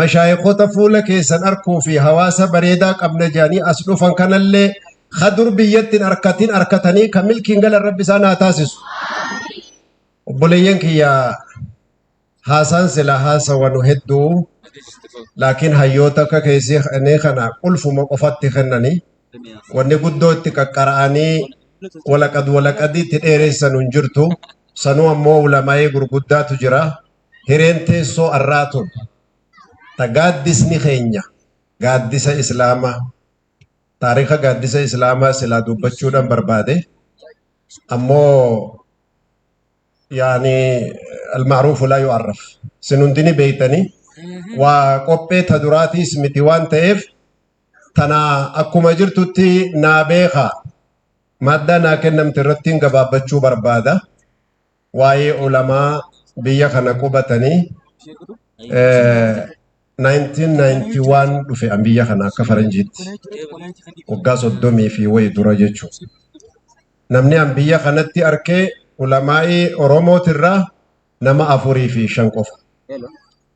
Mashaayikhota fuula keessan arkuu fi hawaasa bareedaa qabna jedhanii as dhufan kanallee ka dur biyyatti hin arkatin arkatanii ka milkiin galan rabbi isaan haa taasisu. Obboleeyyan kiyya haasaan silaa haasawanu hedduu laakiin hayyoota akka keessi kennee kana qulfuma qofatti kennanii wanni guddoo itti qaqqara'anii walaqad walaqadii itti dheereessanu hin jirtu. Sanuu ammoo ulamaa'ee gurguddaatu jira. hireen teessoo arraa tun ta gaaddisni keenya gaaddisa islaamaa taarika gaaddisa islaamaa silaa dubbachuudhaan barbaade ammoo yaani almaaruufu laa yu'arraf sin hundini beeytanii waa qophee ta duraatiis miti waan ta'eef tana akkuma jirtutti naa beekaa maaddaa naa kennamte irrattiin gabaabbachuu barbaada. waa'ee ulamaa biyya kana qubatanii eh, 1991 dhufe an biyya kana akka faranjiitti waggaa soddomii fi wayi dura jechuudha. Namni an biyya kanatti arkee ulamaa'ii Oromootirraa nama afurii fi shan qofa.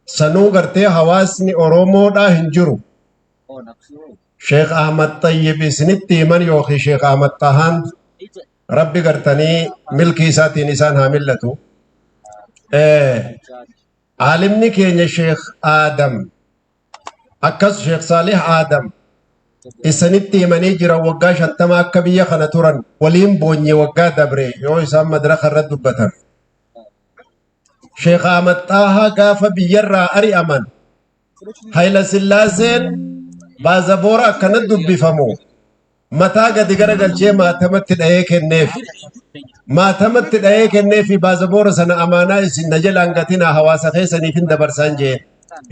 Sanuu gartee hawaasni Oromoodhaa hin jiru. Sheekh Ahmad Tayyib isinitti himan yookiin Sheekh Ahmad Tahaan Rabbi gartanii milkii isaatiin isaan haa mil'atu. Aalimni keenya Sheekh Aadam akkas Sheekh Saalih Aadam isanitti himanii jira waggaa shantama akka biyya kana turan waliin boonye waggaa dabre yoo isaan madraka irra dubbatan. Sheekh Ahmad Xaahaa gaafa biyyarraa ari'aman Hayilasillaaseen baazaboora akkana dubbifamu mataa gadi garagalchee maatamatti dhahee kenneef. Maatamatti dhahee kennee fi baazaboora sana amaanaa isin na jalaan gatinaa hawaasa keessaniif hin dabarsaan jeen.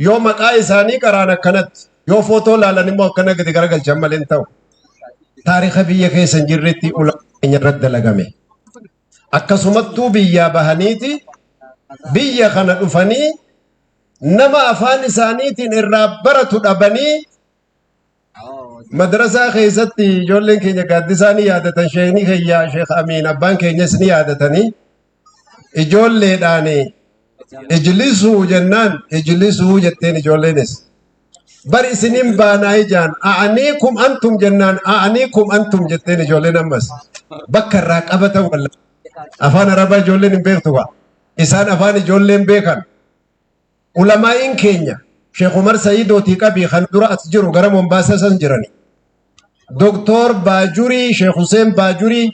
Yoo maqaa isaanii qaraan akkanatti yoo footoo laalan immoo akkana gadi garagalchan malee hin ta'u. Taarika biyya keessa hin jirretti ulaa keenya irratti dalagame. akkasumattuu biyyaa bahaniiti biyya kana dhufanii nama afaan isaaniitiin irraa baratu dhabanii madrasaa keessatti ijoolleen keenya gaaddisaa ni yaadatan sheekni keenya sheek amiin abbaan keenyas ni yaadatanii ijoolleedhaan ijlisuu jennaan ijlisuu jetteen ijoolleenis bar isinin baanaa ijaan a'aniikum antum jennaan a'aniikum antum jetteen ijoolleen ammas bakka irraa qabatan walla afaan arabaa ijoolleen hin beektu kaa isaan afaan ijoolleen beekan ulamaa'iin keenya sheekh umar sa'iidootii qabii kan dura as jiru gara mombaasaa san jirani doktoor baajurii sheekh huseen baajurii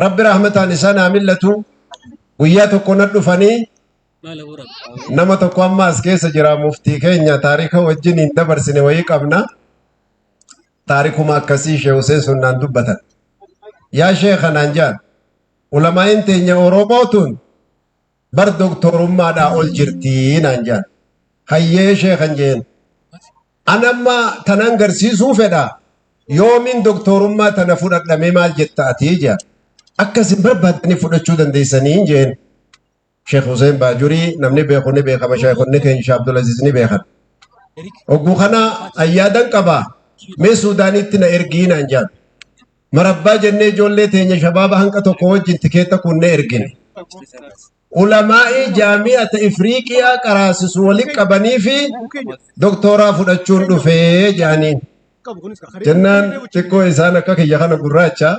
rabbi rahmataan isaan haa millatu guyyaa tokko na dhufanii Nama tokko amma as keessa jira muftii keenya taarika wajjin hin dabarsine wayii qabna. Taarikuma akkasii Sheekh Huseen Sunnaan dubbatan. Yaa Sheekha naan jedhan ulamaa'in teenya Oromoo tun bar doktorummaadhaa ol jirtii naan jedhan. Hayyee Sheekhan jeen. An amma tanan garsiisuu fedha yoomiin doktorummaa tana fudhadhamee maal jetta atii jedhan. Akkasin barbaadanii fudhachuu dandeessanii jeen. Sheekh Huseen Baajurii namni beeku ni beekama sheekonni keenya Sheekh Abdulaziz ni beekan. Ogguu kana ayyaadan qaba mee Suudaanitti na ergii naan jaan. Marabbaa jennee ijoollee teenya shabaaba hanqa tokko wajjin tikeetta kunnee ergine. Ulamaa'ii jaami'ata Ifriiqiyaa qaraasisu walitti qabanii fi doktooraa fudhachuun dhufee jaaniin. Jennaan xiqqoo isaan akka kiyya kana gurraacha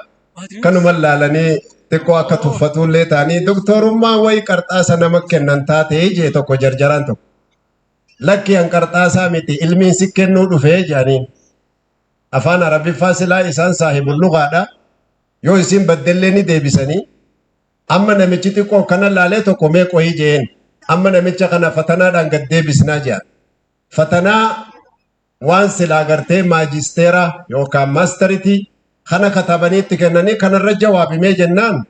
kanuma laalanii xiqqoo akka tuffatuullee ta'anii doktorummaa wayi qarxaasa nama kennan taatee jee tokko jarjaraan tokko. Lakki an qarxaasaa miti ilmiin si kennuu dhufee jedhaniin. Afaan Arabiffaa silaa isaan saahibul lugaadha. Yoo isin baddellee ni deebisanii. Amma namichi xiqqoo kana laalee tokko mee qoyi jeen. Amma namicha kana fatanaadhaan gad deebisnaa jedhan. Fatanaa waan silaa gartee maajisteera yookaan maasteritii kana katabanii itti kennanii kanarra jawaabimee jennaan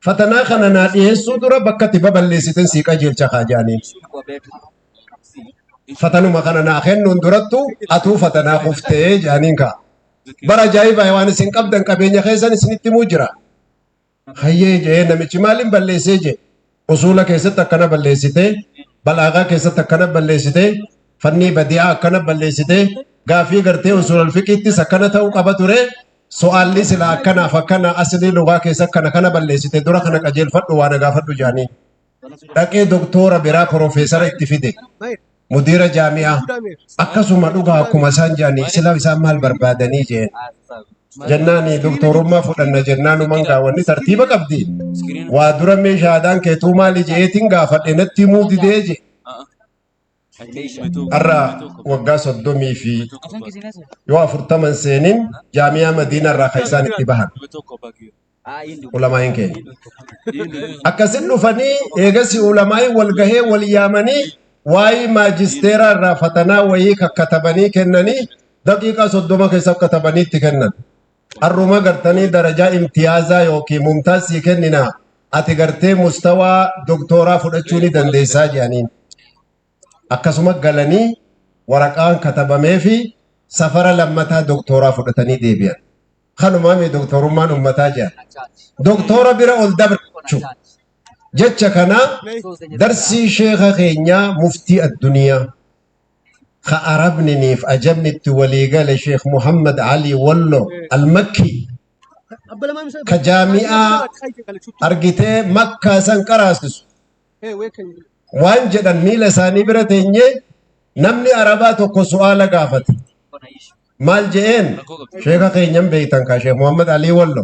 fatanaa kana naa dhiyeessuu dura bakka itti baballeessitin sii qajeelcha kaa jedhaniin. Fatanuma kana naa kennuun durattu atuu fatanaa kuftee jedhaniin kaa. Bara ajaa'ibaa waan isin qabdan qabeenya keessan isinitti himuu jira. Hayyee je'ee namichi maalin balleessee je'e usuula keessatti akkana balleessitee balaagaa keessatti akkana balleessitee fannii badi'aa akkana balleessitee gaafii gartee usuulal fiqiittis akkana ta'uu qaba ture so'aalli silaa akkanaaf akkana asilii lugaa keessa akkana kana balleessite dura kana qajeelfadhu waa na gaafadhu jaanii. dhaqee doktoora biraa profeesara itti fide mudiira jaami'aa akkasuma dhugaa akkuma isaan jedhanii sila isaan maal barbaadanii jeen jennaan doktoorummaa fudhanna jennaan uman gaawwanni tartiiba qabdi waa dura meeshaadaan keetuu maali jeetiin gaafadhe natti himuu didee je har'a waggaa soddomii fi yoo afurtaman seenin jaamiyaa madiinaa irraa kan isaan itti bahan ulamaa'iin keenya. Akkasin dhufanii eegasi ulamaa'iin wal gahee wal yaamanii waa'ee maajisteeraa irraa fatanaa wayii kakkatabanii kennanii daqiiqaa soddoma keessa katabanii itti kennan. Harruma gartanii darajaa imtiyaazaa yookiin mumtaaz sii kenninaa ati gartee mustawaa doktooraa fudhachuu ni dandeessaa jedhaniin. Akkasuma galanii waraqaan katabameefi safara lammataa doktooraa fudhatanii deebi'an. Kanumaami doktoorummaan ummataa jedhan. Doktoora bira ol dabre jechuudha. Jecha kana darsii sheekha keenyaa muftii adduniyaa. ka Arabniniif Ajamni itti walii gale Sheekh Muhammad Ali Wallo Al-Makki ka jaami'aa argitee makkaa san qaraasisu waan jedhan miila isaanii bira teenyee namni Arabaa tokko su'aala gaafate. Maal je'een sheeka keenyan beeytan kaa Sheekh Muhammad Ali Wallo.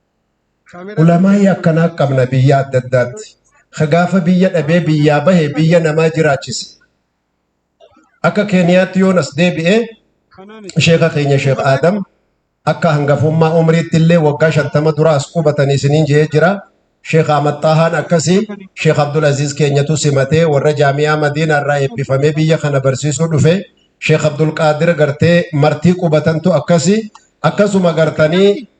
Ulamaa'ii akkanaa qabna biyya adda addaatti. Ka gaafa biyya dhabee biyyaa bahe biyya namaa jiraachise. Akka Keeniyaatti yoon as deebi'e sheeka keenya Sheek Aadam akka hangafummaa umriitti illee waggaa shantama dura as qubatanii isiniin jee jira. Sheek Ahmad Xaahaan akkasii Sheek Abdul Aziz keenyatu simatee warra jaamiyaa Madiinaa irraa eebbifamee biyya kana barsiisuu dhufe. Sheek Abdul Qaadir gartee martii qubatantu akkasii akkasuma gartanii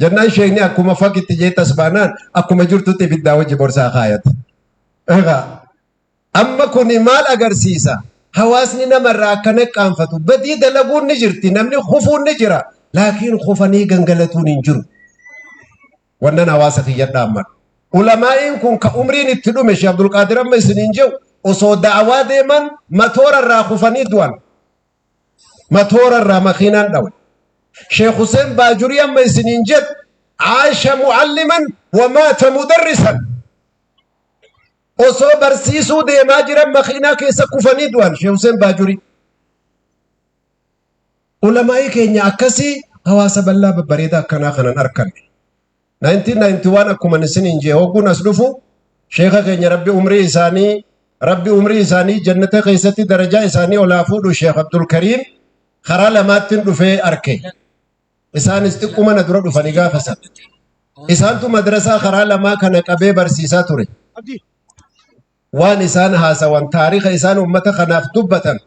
Jennaan sheekni akkuma fagitti jee tasbaanaan akkuma jirtutti ibiddaa wajji borsaa kaayate. Egaa amma kun maal agarsiisa? Hawaasni namarraa akka naqqaanfatu badii dalaguun ni jirti namni kufuun ni jira laakiin kufanii gangalatuun hin jiru. Wannan hawaasa kiyyadhaa amma. Ulamaa'iin kun ka umriin itti dhume Sheekh Abdulqaadir amma isiniin jedhu osoo da'awaa deeman matoora irraa kufanii du'an. Matoora irraa makiinaan dhawan. Sheekh Huseen Baajurii amma isiniin jedhu Aasha mu'alliman wa maata mudarrisan. Osoo barsiisuu deemaa jiran makiinaa keessa kufanii du'an Sheekh Huseen Baajurii. Ulamaa'ii keenya akkasii hawaasa bal'aa babbareedaa akkanaa kanan arkanne. 1991 akkuman isiniin jee hogguun as dhufu sheeka keenya rabbi umrii isaanii rabbi umrii isaanii jannata keessatti darajaa isaanii olaa fuudhu sheek abdul kariim karaa lamaattiin dhufee arke isaanis xiqquma na dura dhufanii gaafa san isaantu madrasaa karaa lamaa kana qabee barsiisaa ture waan isaan haasawan taarika isaan ummata kanaaf dubbatan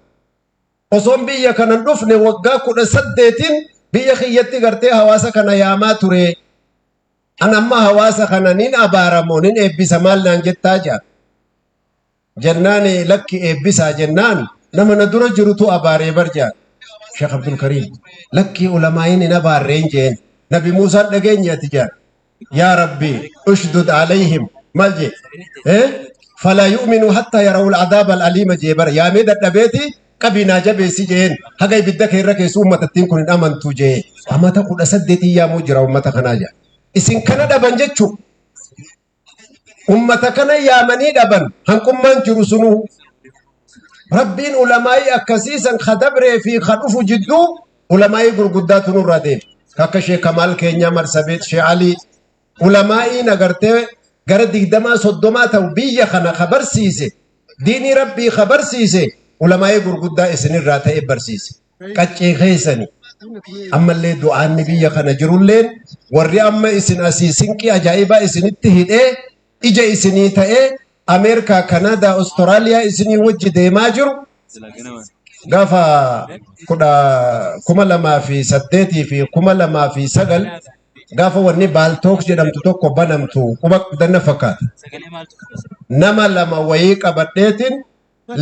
osoon biyya kana hin dhufne waggaa kudha saddeetiin biyya kiyyatti gartee hawaasa kana yaamaa ture. An amma hawaasa kana nin abaaramoo nin eebbisa maal naan jettaa jaa. Jennaan lakki eebbisaa jennaan nama na dura jirutu abaaree bar jaa. Sheekh Abdul Kariim lakki ulamaa'iin hin abaarreen jeen. Nabi Muusaan dhageenye ati jaa. yaa rabbi ushdud alayhim mal je eh fala yu'minu hatta yarawul adab al alima je bar yaa mee dadhabeeti qabii naa jabeessi jeen haga ibidda kee irra keessu ummatattiin kun hin amantu je amata kudha saddeetii yaamuu jira ummata kanaa ja isin kana dhaban jechuu ummata kana yaamanii dhaban hanqummaan jiru sunuu rabbiin ulamaa'ii akkasiisan ka dabree fi ka dhufu jidduu Ulamaa'ii gurguddaatu nurraa deeme. Akka Sheekh Kamaal keenyaa Marsabeet, Sheekh Alii. Ulamaa'ii nagartee gara digdamaa soddomaa ta'u biyya kana ka barsiise, diinii Rabbii ka barsiise, ulamaa'ii gurguddaa isinirraa ta'e barsiise. Qaccee keessani. Ammallee du'aanni biyya kana jirulleen warri amma isin asii sinqii ajaa'ibaa isinitti hidhee ija isinii ta'ee Ameerikaa, Kanaadaa, Ostiraaliyaa isinii wajji deemaa jiru gafa kudha kuma lamaa fi saddeetii fi kuma lamaa fi sagal gafa wanni baaltook jedhamtu tokko banamtu quba qabdanna fakkaata. Nama lama wayii qabadheetiin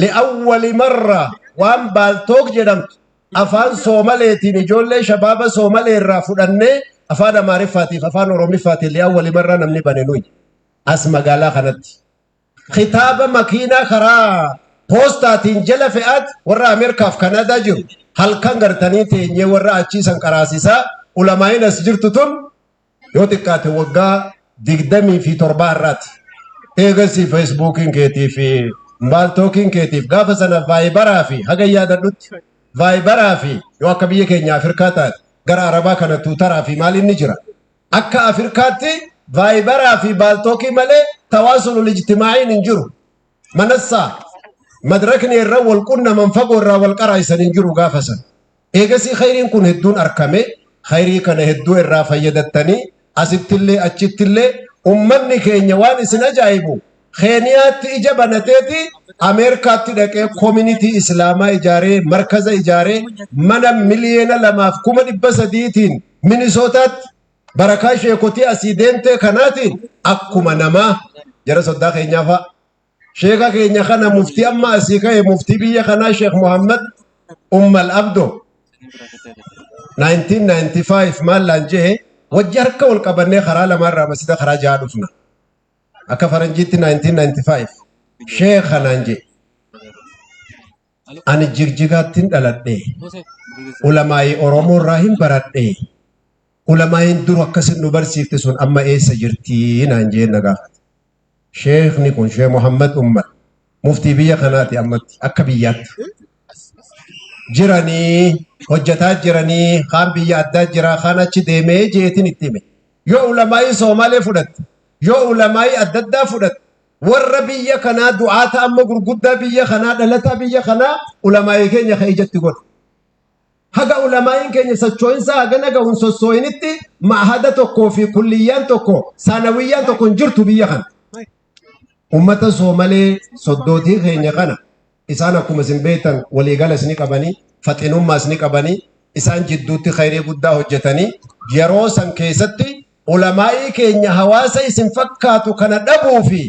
li'awwali marra waan baaltook jedhamtu afaan soomaleetiin ijoollee shabaaba soomalee irraa fudhannee afaan amaariffaatiif afaan oromiffaatiin li'awwali marra namni bane nuyi as magaalaa kanatti kitaaba makiinaa karaa poostaatiin jala fe'aat warra ameerikaaf kanaadaa jiru halkan gartanii teenyee warra achiisan qaraasisaa ulamaa'in as jirtu tun yoo xiqqaate waggaa digdamii fi torbaa irraati. Eegasii feesbuukiin keetii fi baaltookiin keetiif gaafa sana vaayibaraa fi haga yaadadhutti vaayibaraa fi yoo akka biyya keenya Afirkaa taate gara Arabaa kana tuutaraa fi maaliin ni jira. Akka Afirkaatti vaayibaraa fi baaltookii malee tawaasulul ijtimaa'iin hin jiru. manassaa madrakni irra wal qunnaman fagoo irraa wal qaraa'isan hin jiru gaafa san. Eegasii khayriin kun hedduun arkame khayrii kana hedduu irraa fayyadattanii asittillee achittillee ummanni keenya waan isin ajaa'ibu Keeniyaatti ija banateeti Ameerikaatti dhaqee koominitii Islaamaa ijaaree markaza ijaaree mana miliyeena lamaaf kuma dhibba sadiitiin Minisootaatti barakaa sheekotii asii deemtee kanaatiin akkuma namaa jara soddaa keenyaa fa'a. Sheeka keenya kana muftii amma asii ka'e muftii biyya kanaa Sheek Muhammad Ummal Abdo 1995 maallaan jehe wajji harka wal qabannee karaa lamaarraa masjida karaa jaha dhufna. Akka faranjiitti 1995 sheeka naan jehe. Ani Jigjigaattin dhaladhe. Ulamaa'ii Oromoo irraa hin baradhe. Ulamaa'iin dur akkasin nu barsiifte sun amma eessa jirti naan jeen na gaafate. Sheekni kun Sheekh Muhammad Ummar muftii biyya kanaati ammatti akka biyyaatti. Jiranii hojjetaa jiranii kaan biyya addaa jira kaan achi deemee jeetin itti hime. Yoo ulamaa'ii Soomaalee fudhatte yoo ulamaa'ii adda addaa fudhatte warra biyya kanaa du'aata amma gurguddaa biyya kanaa dhalataa biyya kanaa ulamaa'ii keenya ka ijatti godhe. Haga ulamaa'iin keenya sochoo'insaa hagana gahuun sossoo'initti ma'ahada tokkoo fi kulliyyaan tokko saanawiyyaan tokko hin jirtu biyya kana. Uummata Soomalee soddootii keenya kana isaan akkuma isin beektan waliigalas ni qabanii faxinummaas ni qabanii isaan jidduutti khayrii guddaa hojjetanii yeroo san keessatti ulamaa'ii keenya hawaasa isin fakkaatu kana dhabuu fi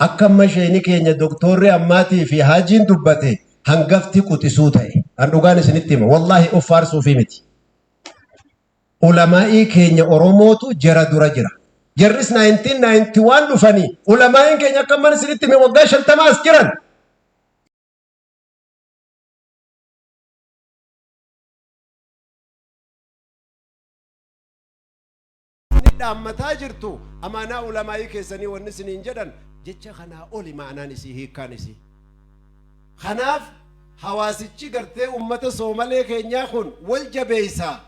akka amma sheeni keenya doktoorri ammaatii fi haajiin dubbate hangafti quxisuu ta'e an dhugaan isinitti hima wallaahi of faarsuu fi miti. ulamaa'ii keenya Oromootu jara dura jira. Jarris 1991 dhufanii ulamaa'iin keenya akka mana isinitti hime waggaa 50 as jiran. Inni dhaammataa jirtu amaanaa ulamaa'ii keessanii wanni isiniin jedhan jecha kanaa oli maanaan isii hiikkaan isii. Kanaaf hawaasichi gartee ummata Soomalee keenyaa kun wal jabeessa,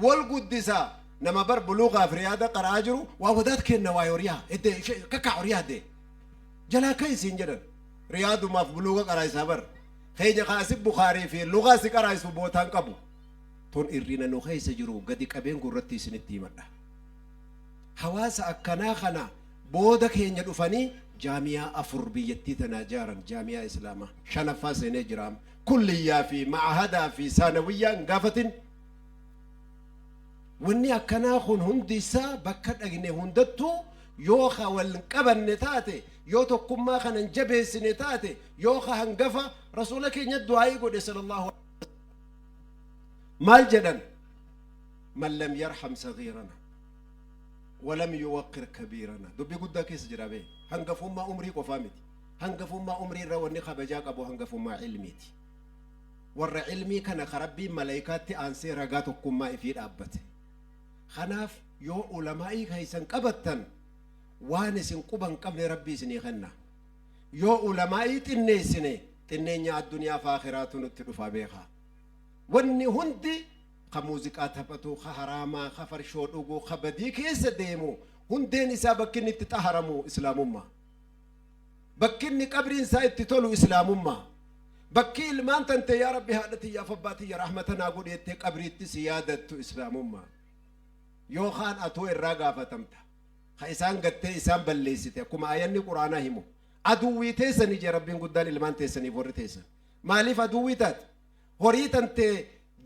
wal guddisa, nama bar buluugaa fi riyaada qara'aa jiru waa wadaad keenna waa'ee horiyaa eddee ishee kakkaa horiyaa eddee jalaa ka'i siin jedhan riyaadumaaf buluuga qaraa'isaa bar keenya kaa asi bukaarii fi lugaa si qaraa'isu bootaan qabu tun irrina nu keessa jiru gadi qabeen gurratti isinitti himadha hawaasa akkanaa kana Booda keenya dhufanii jaami'aa afur biyyattii tanaa jaaran, jaami'aa Islaamaa shanaffaa seenee jira amma. Kulliyyaa fi ma'ahadaa fi saanawiyyaa hin gaafatin. Wanni akkanaa kun hundi isaa bakka dhaqne hundattuu yoo ka wal hin qabanne taate, yoo tokkummaa kana hin jabeessine taate, yoo ka hangafa Rasuula keenya du'aa'ii godhe sallallahu aleyhi wa sallam. Maal jedhan? Man lam yarham saghiirana. walam yuwaqqir kabiirana dubbii guddaa keessa jira bee hangafummaa umrii qofaa miti hangafummaa umrii irra wanni kabajaa qabu hangafummaa ilmiiti warra ilmii kana ka rabbiin malaykaatti aansee ragaa tokkummaa ifii dhaabbate kanaaf yoo ulamaa'ii keessan qabattan waan isin quba hin qabne rabbii isinii kenna yoo ulamaa'ii xinneessine xinneenya addunyaa fi aakiraatu nutti dhufa beekaa wanni hundi Ka muuziqaa taphatu, ka haraamaa, ka farshoo dhugu, ka badii keessa deemu, hundeen isaa bakki inni itti xaharamu Islaamummaa. Bakki inni qabriin isaa itti tolu Islaamummaa. Bakki ilmaan tantee yaa Rabbi haadha tiyyaaf abbaa tiyya rahmata naa godhi jettee qabriitti si yaadattu Islaamummaa. Yoo kaan atuu irraa gaafatamta. Ka isaan gattee isaan balleessite akkuma aayanni Qur'aanaa himu. Aduwwii teessani jee Rabbiin guddaan ilmaan teessaniif warri teessan. Maaliif aduwwii taate? Horii tante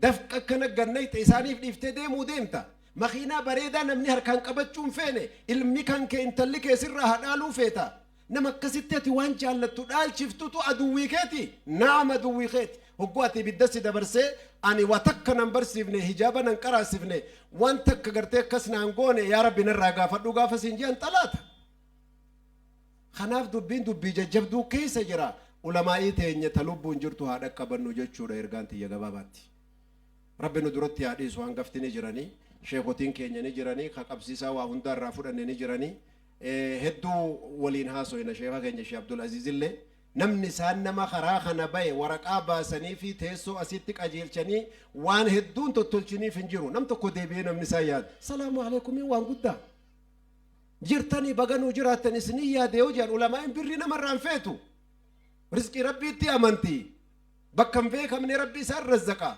dafqa akkana gannayxe isaaniif dhiiftee deemuu deemta. Makiinaa bareedaa namni harkaan qabachuu hin feene ilmi kan kee intalli kee sirraa haa dhaaluu feeta. Nama akkasitti ati waan jaallattu dhaalchiftutu aduwwii keeti? Na'am aduwwii keeti. Hogguu ati ibidda si dabarsee ani waa takka nan barsiifne hijaaba nan qaraasifne waan takka gartee akkas naan goone yaa rabbi narraa gaafadhu gaafa siin je'an xalaata. Kanaaf dubbiin dubbii jajjabduu keessa jira. Ulamaa'ii teenya ta lubbuun jirtu haa dhaqqabannu jechuudha ergaan tiyya gabaabaatti. Rabbi nu duratti haa dhiisu hangafti ni jiranii, sheekotiin keenya ni jiranii, ka qabsiisaa waa hundaa irraa fudhanne ni jiranii. Hedduu waliin haasoyna sheeka keenya Shee Abdul Aziiz illee. Namni isaan nama karaa kana baye waraqaa baasaniifii teessoo asitti qajeelchanii waan hedduun tottolchiniif hin jiru. Nam tokko deebi'ee namni isaan yaadu. Salaamu aleykumiin waan guddaa. jirtanii baga nuu jiraattan isiniin yaade yoo jedhan ulamaa'iin birrii namarraa hin feetu rizqii rabbiitti amanti bakka hin beekamne rabbi isaan razzaqa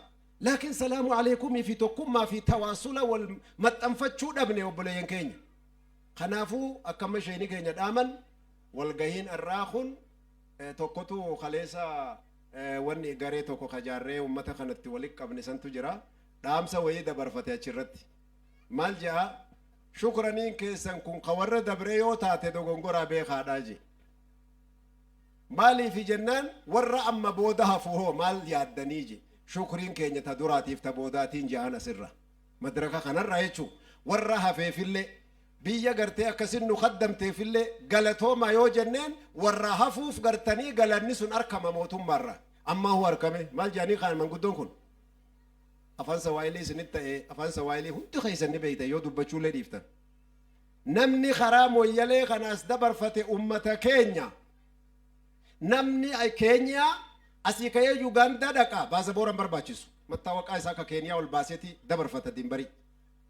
laakiin salaamu aleekumii fi tokkummaa fi tawaasula wal maxxanfachuu dhabne obboleeyyan keenya kanaafuu akkamma isheenii keenya dhaaman walgahiin har'aa kun eh, tokkotu kaleessa eh, wanni garee tokko kajaarree ummata kanatti walitti qabne santu jira dhaamsa wayii dabarfate achirratti maal jedha Shukraniin keessan kun ka warra dabree yoo taate dogongoraa beekaadhaa jee. Maaliifi jennaan warra amma booda hafu hoo maal yaaddanii jee. Shukriin keenya ta duraatiif ta boodaatiin jahan asirra. Madraka kanarra jechuu warra hafeefillee biyya gartee akkasin nu kaddamteefillee galatoomaa yoo jenneen warra hafuuf gartanii galanni sun arkama mootummaarraa. Ammaa huu arkamee maal jaanii kaan manguddoon kun. Afaan Sawaahilii isinitti ta'ee Afaan Sawaahilii hundi keessan ni beektan yoo dubbachuullee dhiiftan. Namni karaa Moyyalee kana as dabarfate uummata keenya. Namni Keeniyaa asii ka'ee Yugaandaa dhaqa baasaboora hin barbaachisu. Mattaawaqaa isaa akka Keeniyaa ol baaseeti dabarfata dimbarii.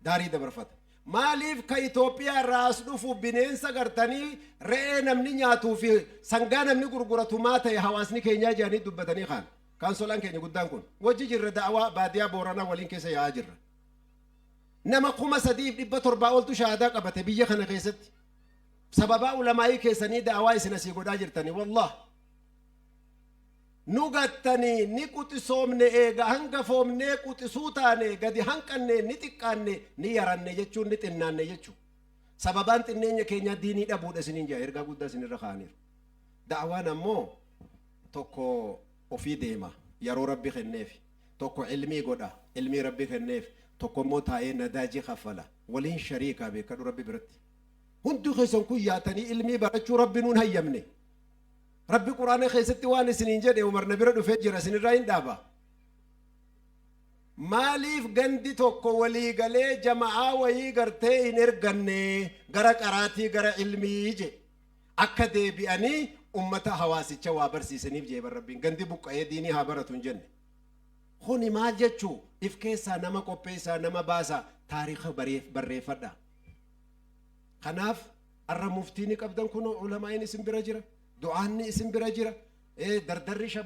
Daarii dabarfata. Maaliif ka Itoophiyaa irraa as dhufu bineensa gartanii re'ee namni nyaatuu fi sangaa namni gurguratu maa ta'e hawaasni keenyaa jedhanii dubbatanii kaan. Kaansolaan keenya guddaan kun. Wajji jirra da'awaa baadiyaa Booranaa waliin keessa yaa'aa jirra. Nama 3700 oltu shahaadaa qabate biyya kana keessatti. Sababaa ulamaa'ii keessanii da'awaa isin asii godhaa jirtanii wallaah. Nu gattanii ni quxisoomne eega hangafoomnee quxisuu taane gadi hanqanne ni xiqqaanne ni yaranne jechuun ni xinnaanne jechu. Sababaan xinneenya keenyaa diinii dhabuudha isiniin jaa ergaa guddaa isinirra kaa'aniiru. Da'awaan ammoo tokko ofii deema yaroo rabbi kenneefi tokko ilmii godha ilmii rabbi kenneef tokko immoo taa'ee nadaaji kaffala waliin shariikaa beekadhu rabbi biratti hunduu keessan kun yaatanii ilmii barachuu rabbi nuun hayyamne rabbi quraana keessatti waan isiniin jedhe umar na bira dhufee jira isinirraa hin dhaaba maaliif gandi tokko walii galee jama'aa wayii gartee hin erganne gara qaraatii gara ilmii jedhe akka deebi'anii ummata hawaasicha waa barsiisaniif jee bar rabbiin gandi buqqa'ee diinii haa baratu hin jenne kuni maal jechuu if keessaa nama qopheessaa nama baasaa taariikha bareef- barreeffadhaa kanaaf arra muftiini qabdan kunoo ulamaa'iin isin bira jira du'aanni isin bira jira eh, dardarri shab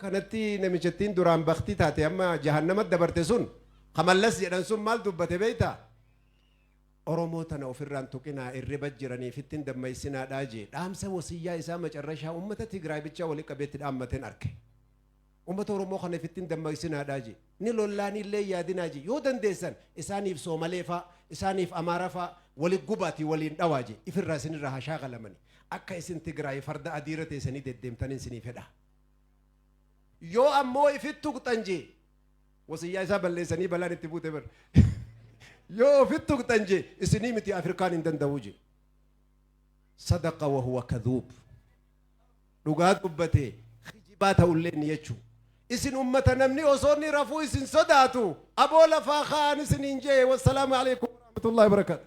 kanatti namichattiin duraan baktii taate amma jahannamatti dabarte sun kamallas jedhan sun maal dubbate beekta oromoo tana ofirraan tuqinaa irriba jiraniif ittiin dammaysinaa dhaajee dhaamsa wasiyyaa isaa macarrashaa uummata tigraay bichaa walitti qabeetti dhaammateen arke Ummata Oromoo kana ifitti hin dammaqsinaadhaa ji. Ni lollaanii illee hin yaadinaa ji. Yoo dandeessan isaaniif Soomalee faa, isaaniif Amaara faa wali gubaatii waliin dhawaa ji. Ifirraa isinirraa haa shaakalamani. Akka isin Tigraayi farda adii irra teessanii deddeemtanin isinii fedha. Yoo ammoo ifitti tuqxan ji. Wasiyyaa isaa balleessanii balaan itti buute bar. Yoo ofitti tuqxan ji isinii miti Afirkaan hin danda'uu ji. Sadaqa wa huwa kadhuub. Dhugaa dubbate kijibaa ta'ullee ni jechu. Isin ummata namni osoo inni rafuu isin sodaatu aboo lafaa ka'aan isiniin je'e wassalaamu aleykum warahmatullahi wabarakatuh.